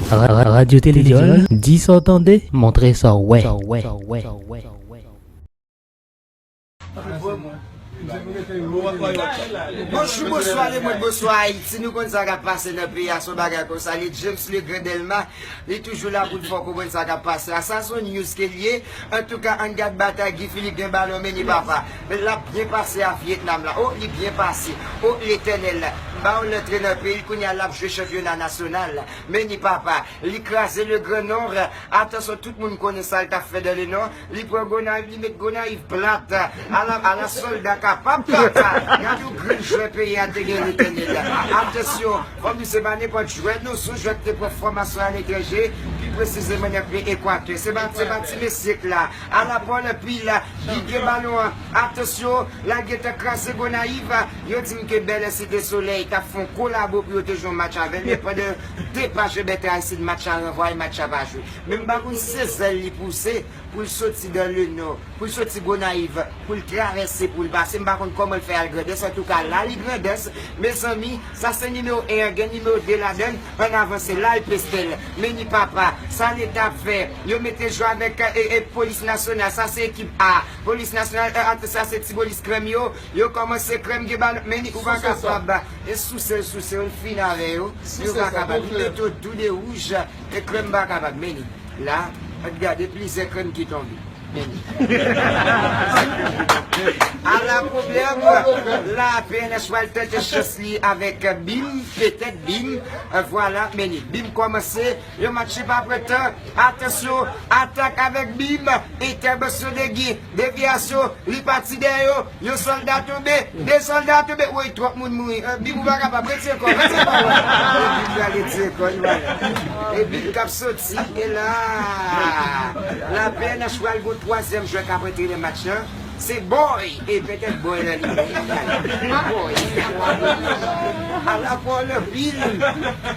Radyo Telejòl, di sa w tande, montre sa w wè. Bonjou, bonswa lemond, bonswa Ayiti, nou konn sa kap pase nan peyi a, se yon bagay konsa l ye, James le grand Delma li toujou la pou l fè w konprann sa kap pase a, sa s on news ke l ye, antouka ann gad batay Guy Philippe gen balon men li papa. Men lap byen pase a Vietnam la oh li byen pase oh letènèl baw l antre nan peyil kounya lap jwe chanpyona nasyonal men ni papa li kraze le grand nord atansyon tout moun konnen sal tap fè dan le nord li pran gonayiv li met gonayiv plat ala ala solda kapab papa gad yon grenn jwè peyi a te gen letènèl atansyon fòm di se pa nenpòt jwè non son jwè ki te pran fòmasyon aletranje pi presizeman nan peyi ekwatè se pa se pa ti mesye k la Ala vòlè pwi la ki gen balon an atansyon lal gentan kraze Gonayiv yo dim ke Bèlè Site Solèy tap fè yon kolabo pou yo te jwe yon match avèl men pandan yo depache Bètè Aristide match la ranvwaye match la pa jwe men m pa konn si se zèl li pouse poul soti dan le nò poul soti Gonayiv poul travèse poul pase m pa konn kòman l fè al Grandans antouka la li Grandans mezanmi Sa se nimewo 1 an gen nimewo 2 ladann an avanse lal pestel meni papa sa leta ap fè yo mete jwe avek polis nasyonal sa se ekip A polis nasyonal 1 ak sa se tibolis krèm yo yo komanse krèm gen balon meni ou pa kapab e sousel sousel ou fini avè yo yo pa kapab li mete yo tou 2 wouj e krèm pa kapab meni la gade plizyè krèm ki tonbe. Ala pwoblèm, la pnh pral tante chans li avèk Bim, petèt Bim, vwala mennen. Bim kòmanse, yon match li pa pran tan, atansyon, atak avèk Bim, entèbasyon Degi, devyasyon, li pati dèyè yo. Yon solda tonbe, 2 solda tonbe, woy twòp moun mouri, Bib ou pa kapab, retire kò w, retire kò w la. E Bib la retire kò l wala. E Bib k ap soti, e la la pnh pral gen yon twazyèm jwè k ap antre nan match lan, se Boy, e petèt Boy la li menm, eyy Boy se yon abolotch, ala pou w lè pil,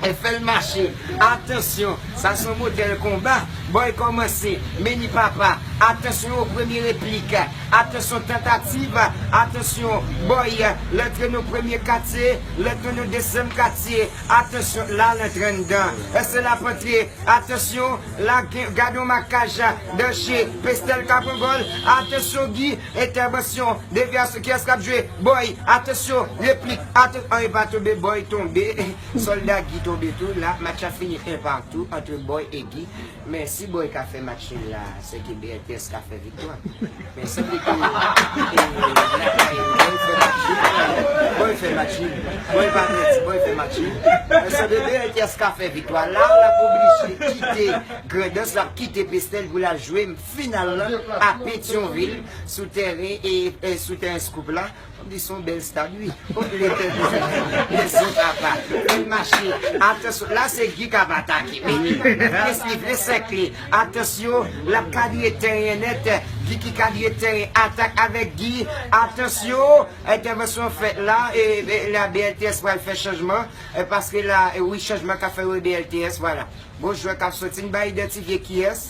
e fè l mache, atansyon, sa se yon modèl konba, Boy kòmanse, meni papa, atansyon o premye replik. Atansyon tantativ, atansyon bòy, lantre nan premye katye, lantre nan dezyèm katye, atansyon la lantre anndan, èske l ap antre, atansyon la gen, gad yon makaj, danje, Pestel Kaprangòl, atansyon Gi, entèvansyon, devyasyon, kiyès k ap jwe, bòy, atansyon, replik, atansyon, an e pa tonbe, bòy tonbe, sòlda Gi tonbe tou, la match la fini 1 partout antre bòy e Gi. Men si boy ka fè match nul la se ke BLTS ka fè viktwa men si li te lakay ou boy fè match nul boy fè match nul boy pa fè ti boy fè match nul men se ke BLTS ka fè viktwa la ou lap oblije kite Grandans lap kite Pestel pou lal jwe final lan a Petion ville sou tèren sou tèren Scoop la. Fòm di son bèl stad wi. Hoo le pèp is at home le son papa bèl mache atansyon la se Guy kap atake meki papa es li vle sèkle atansyon lap kalye tèren nèt Vicky kalye tèren atak avèk Guy atansyon entèvansyon fèt la la BLTS pral fè chanjman paske la wi chanjman ka fè wi BLTS vwala bon jwè kap soti n ba idantifye kiyès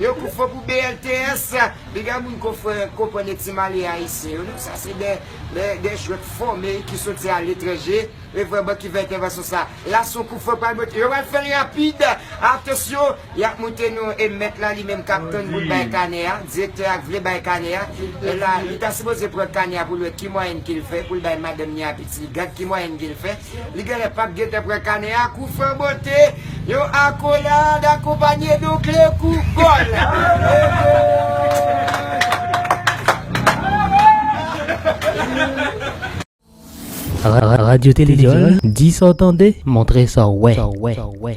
Yo kou fo pou BLTS. Piga moun konprann e ti male ayisyen yo non sa se de jwèt fòme ki soti a letranje e vrèman ki fè entèvansyon sa la son kou fo pral monte yo pral fèl rapid atansyon yap moute nou e mèt la li menm kap tann poul bay kanè a direktè a vle bay kanè a la li ta sipoze pran kanè a poul wè ki mwayèn kil fè poul bay madanm ni a pitit li gad ki mwayèn kil fè. Li genlè pat gentan pran kanè a kou fè bote yon akolad akonpanye don kle kou gòl. Radio Télé Diol, di sa w tande, montre sa w wè.